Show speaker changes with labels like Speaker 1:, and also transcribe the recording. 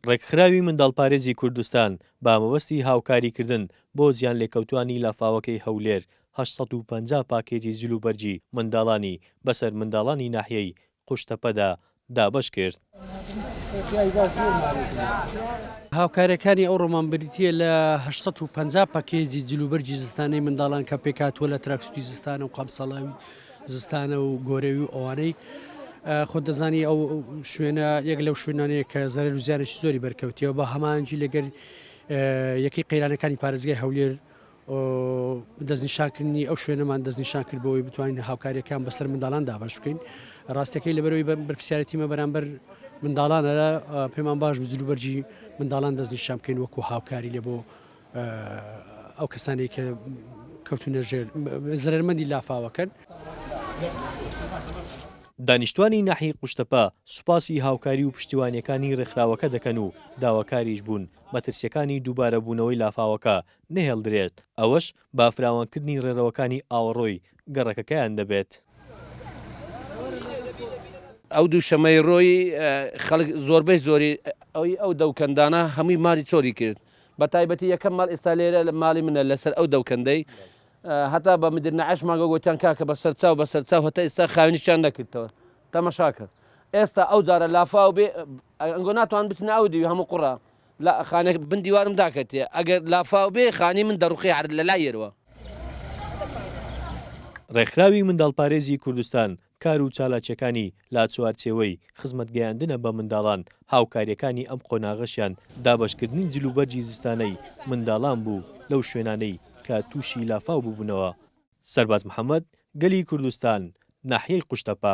Speaker 1: ڕێکخراوی منداڵپارێزی کوردستان بە مەبەستی هاوکاریکردن بۆ زیانلێکەوتووانی لافاوەکەی هەولێر، هەشت سەد و پەنجا پاکێجی جلوبەرگی منداڵانی بەسەر منداڵانی ناحیەی قوشتەپەدا دابەشکرد.
Speaker 2: هاوکارییەکانی ئەو ڕۆمان بریتییە لە هەشت سەد و پەنجا پاکێجی جلوبەرگی زستانەی منداڵان کە پێکهاتووە لە تراکسوتی زستانە و قەمسەڵاوی زستانە و گۆرەوی و ئەوانەی خۆ دەزانی ئەو شوێنە یەک لەو شوێنانەیە کە زەرەر و زیانێکی زۆری بەرکەوتیەوە بە هەمانجی لەگەر یەکەی قەیرانەکانی پارێزگای هەولێر دەستنیشانکردنی ئەو شوێنەمان دەستنیشان کرد بۆی بتوانین هاوکاریەکان بەسەر منداڵان دابش بکەین ڕاستەکەی لەبەرەوەی بە بەرپسیارەتیمە بەرامبەر منداڵانە پێمان باش بزلو بەرجی منداڵان دەستنیشان بکەین وەکو هاوکاری لە بۆ ئەو کەسانی کە کەوتونە ژێر زرەرمەندی لافاوەکەن.
Speaker 1: دانیشتوانی ناحیەی قوشتەپە سوپاسی هاوکاری و پشتیوانیەکانی رێکخراوەکە دەکەن و داواکاریش بوون مەترسیەکانی دووبارە بوونەوەی لافاوەکە نەهێڵدرێت ئەوەش با فراوانکردنی رێرەوەکانی ئاوەڕۆی گەڕەکەکەیان دەبێت.
Speaker 3: ئەو دووشەمەی رۆی خەڵک زۆربەی زۆری ئەوی ئەو دەوکەندانە هەمووی ماری چۆلی کرد. بە تایبەتی یەکەم ماڵ ئێستا لێرە ماڵی منە لەسەر ئەو دەوکەندەی هەتا بە مدر نەعەش ماگە گۆتیان کاکە بە سەرچاو بە سەرچاو هەتا ئێستا خاوێنیشیان نەکردەوە تەمەشا کرد ئێستا ئەو جارە لافاو بێ ئەنگۆ ناتوان بچنە ئەو دیوی هەموو قوڕا لە خانێک بن دیوارم داکەتێ ئەگەر لافاو بێ خانی من دەڕوخی هەر لە لای یەروە.
Speaker 1: ڕێکخراوی منداڵپارێزی کوردستان کار و چالاکیەکانی لاچوارچێوەی خزمەت گەیاندنە بە منداڵان، هاوکاریەکانی ئەم قۆناغەشیان دابەشکردنی جل و بەرگی زستانەی منداڵان بوو لەو شوێنانەی کە تووشی لافاو ببوونەوە. سەرباز محەمەد، گەلی کوردستان، ناحیەی قوشتەپە.